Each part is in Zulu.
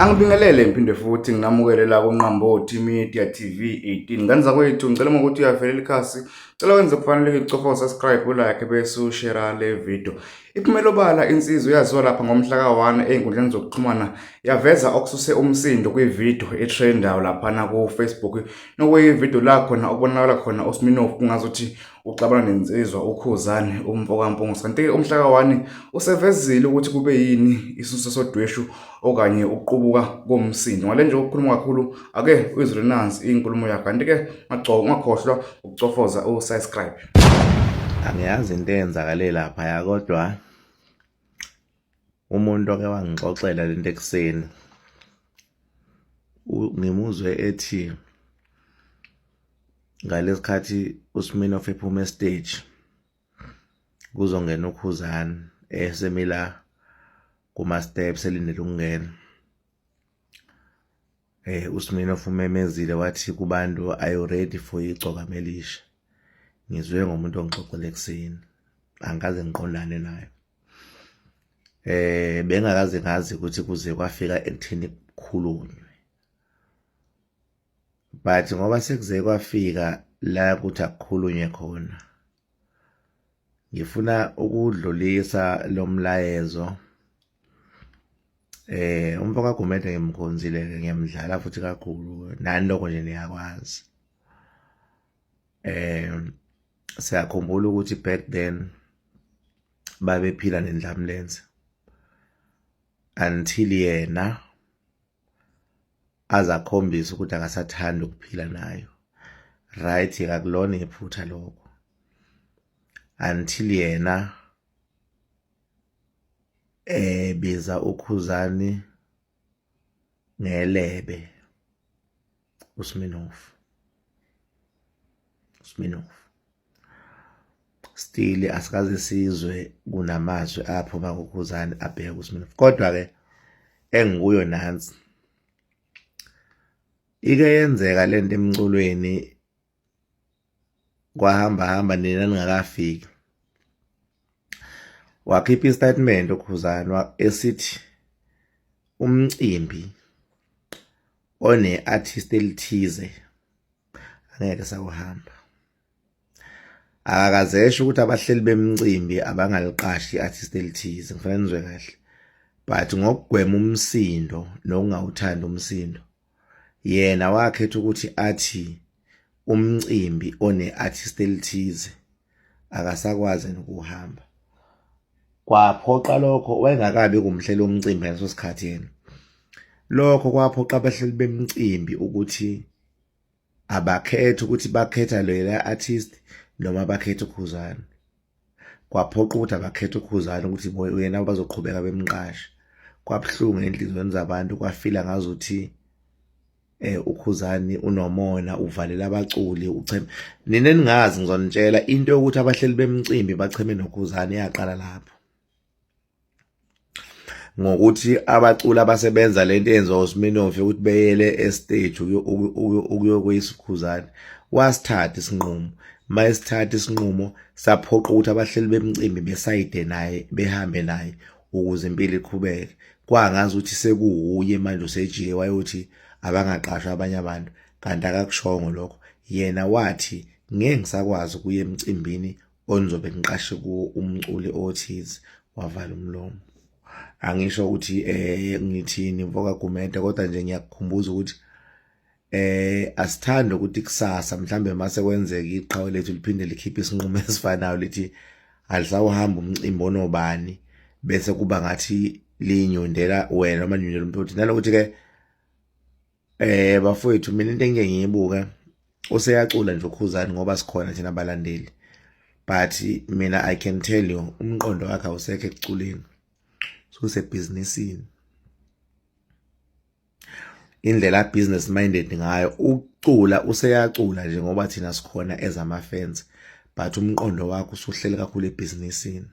Angibingelele ngiphinde futhi nginamukele la kuNqambothi Media TV 18. Ngane zakwethu ngicela uma ukuthi uyavelela ikhasi, cela wenze kufaneleke icofa subscribe ulike bese ushare le video. Iphumela obala insizwa yaziwa lapha ngomhla ka-1 ezinkundleni zokuxhumana yaveza okususe umsindo kwivideo etrendayo laphana ku-Facebook nokuyivideo la khona okubonakala khona uSminoff kungazuthi uxabana nensizwa uKhuzani umfokaMpungusi kanti-ke uMhlaka wani usevezile ukuthi kube yini isisusa sodweshu okanye ukuqubuka komsindo ngale nje ukukhuluma kakhulu ake uyizwe nansi inkulumo yakhe kanti-ke ungakhohlwa ukucofoza usubscribe angiyazi into eyenzakale laphaya kodwa umuntu oke wangixoxela lento ekuseni ngimuzwe ethi ngalesikhathi uSmino ephuma estage kuzongena ukhuzani esemila kuma steps elindele ukungena Eh uSminoff umemezile wathi kubantu are you ready for igcoka melisha ngizwe ngomuntu ongixoxele ekseni angikaze ngiqondane nayo eh bengakaze ngazi ukuthi kuze kwafika ekuthini kukhulunywe but ngoba sekuze kwafika la ukuthi akukhulunywe khona ngifuna ukudlulisa lomlayezo Eh umfo kaGumede ngimkhonzile ke ngiyamdlala futhi kakhulu nani lokho nje niyakwazi. Eh siyakhumbula ukuthi back then babephila nendlamlenze until yena azakhombisa ukuthi akasathanda ukuphila nayo right kakulona iphutha lokho until yena eh biza ukhuzani ngelebe uSminoff Sminoff still asikaze sizwe kunamazwi apho bakukhuzani abheke uSminoff kodwa ke engikuyo nansi ike yenzeka lento emculweni kwahamba hamba nina ningakafiki wakhipha istatement ukhuzana esithi umcimbi one artist elithize angeke sawuhamba akakazesho ukuthi abahleli bemcimbi abangaliqashi i-artist elithize ngifanele nizwe kahle but ngokugwema umsindo nokungawuthandi umsindo yena wakhetha ukuthi athi umcimbi one-artist elithize akasakwazi nokuhamba kwaphoqa lokho wayengakabi kumhlela umcimbi ngaleso sikhathi yena lokho kwaphoqa abahleli bemcimbi ukuthi abakhethe ukuthi bakhetha lela artist noma bakhethe ukhuzane kwaphoqa ukuthi abakhethe ukhuzana ukuthi uyena bazoqhubeka bemqashe kwabuhlungu enhlizweni zabantu kwafila ngazuthi eh ukhuzani unomona uvalela abaculi ucheme nina ningazi ngizonitshela into yokuthi abahleli bemcimbi bacheme nokhuzani yaqala lapho ngokuthi abaculi abasebenza lento yenza uSminoff ukuthi beyele estage ukuyokuyisikhuzane wasithatha isinqumo mayesithatha isinqumo saphoqa ukuthi abahleli bemcimbi besayide naye behambe naye ukuze impilo iqhubeke kwangazi ukuthi sekuwuye manje usejike wayothi abangaqashwa abanye abantu kanti akakushongo lokho yena wathi ngeke ngisakwazi ukuya emcimbini onizobe niqashe kuwo umculi othize wavala umlomo angisho ukuthi eh ngithini mfoka Gumede kodwa nje ngiyakukhumbuza ukuthi eh asithanda ukuthi kusasa mhlambe mase kwenzeka iqhawe lethu liphinde likhiphe isinqumo esifanayo lithi alisawuhamba umcimbi onobani bese kuba ngathi linyundela wena noma nyundela umuntu nalokuthi ke Eh bafowethu mina into engike ngiyibuke useyacula nje ukhuzani ngoba sikhona thina balandeli but mina i can tell you umqondo wakhe awusekho ekuculeni susebhizinisini indlela business minded ngayo ucula useyacula nje ngoba thina sikhona ezama fans but umqondo wakho usuhleli kakhulu ebhizinisini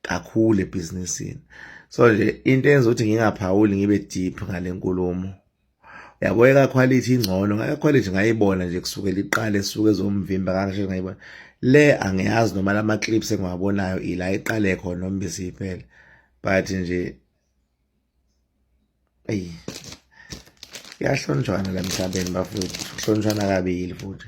kakhulu ebhizinisini so nje into enza ukuthi ngingaphawuli ngibe deep ngale nkulumo yabo ekakhwalithi ingcono ngayakhwalithi ngayibona nje kusukela iqale suke ezomvimba kangisho ngayibona le angiyazi noma lama clips engiwabonayo ila iqale khona noma besiyiphele but nje ayi kuyahlonjwana la mhlabeni bafowethu kuhlonjwana kabili futhi